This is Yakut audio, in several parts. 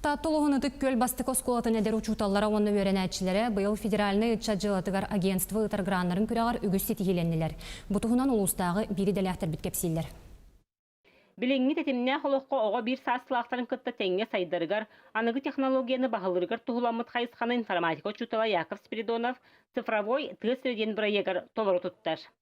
Таатта улууһун Ытык Күөл бастакы оскуолатын эдэр учууталлара уонна үөрэнээччилэрэ быйыл федеральнай ыччат дьыалатыгар агентство ыытар граннарын күрэҕэр үгүс ситиһиилэннилэр. Бу туһунан улуустааҕы биир идэлээхтэрбит кэпсииллэр. Билиҥҥи тэтимнээх олоххо оҕо биир саастаахтарын кытта тэҥҥэ сайдарыгар, аныгы технологияны баһылыырыгар туһуламмыт хайысханы информатика учуутала Яков Спиридонов цифровой тыа сирэ диэн бырайыагар толору туттар.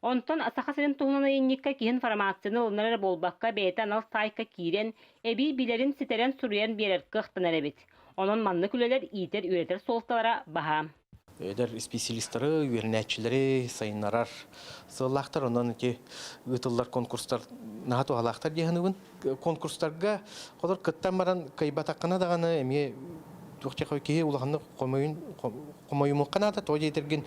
Онтон Саха сирин туһунан айанньыкка киһин формацияны ылынар эрэ буолбакка, бэйэтэ анал саайка киирэн, эбии билэрин ситэрэн суруйан биэрэр кыахтанар эбит. Онон маннык үлэлэр иитэр-үөрэтэр суолталара баһаам. Эдэр исписэлиистэри, үөрэнээччилэри сайыннарар сыаллаахтар. Онон ити ыытыллар конкурстар наһаа туһалаахтар дии саныыбын. Конкурстарга холор кыттан баран кыайбатаххына даҕаны эмиэ туох киһи улаханнык хомойун Хомойумукка наада, тоҕо диэтэргин,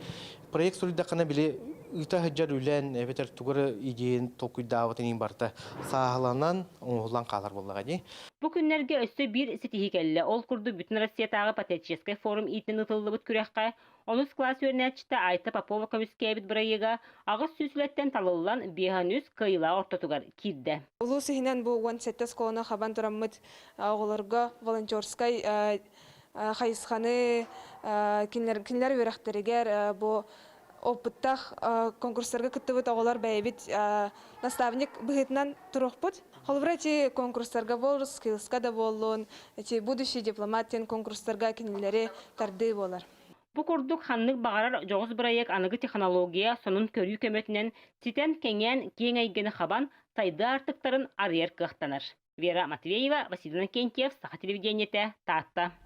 проект суруйдаххына, били, ыыта сылдьар үлэн эбэтэр тугу эрэ идиэйин толкуйдаабытын иһин барыта сааһыланан, оҥоһуллан хаалар буоллаҕа дии. Бу күннэргэ өссө биир ситиһии кэллэ. Ол курдук бүтүн Россиятааҕы патриотическай форум иитинэн ытыллыбыт күрэххэ онус класс үөрэнээччитэ Айта Попова көмүскээбит бырайыага аҕыс сүүс үлэттэн талыллан, биэс уон үс кыайыылаах ортотугар киирдэ. Улуус иһинэн бу уон сэттэ оскуоланы хабан тураммыт оҕолорго волонтерскай хайысханы кинилэр үөрэхтэригэр бу опыттах конкурстарга кыттыбыт оҕолор бэйэбит наставник быһыытынан турухпут. Холобура, эти конкурстарга буоллун, скиллска да буоллун, эти будущий дипломат диэн конкурстарга кинилэри тардыы буолар. Бу курдук ханнык баҕарар дьоҕус бырайыак аныгы технология сонун көрүү көмөтүнэн ситэн кэҥээн киэҥ эйгэни хабан, сайдыы аартыктарын арыйар кыахтанар. Вера Матвеева, Василий Иннокентьев, Саха телевидениетэ, Таатта.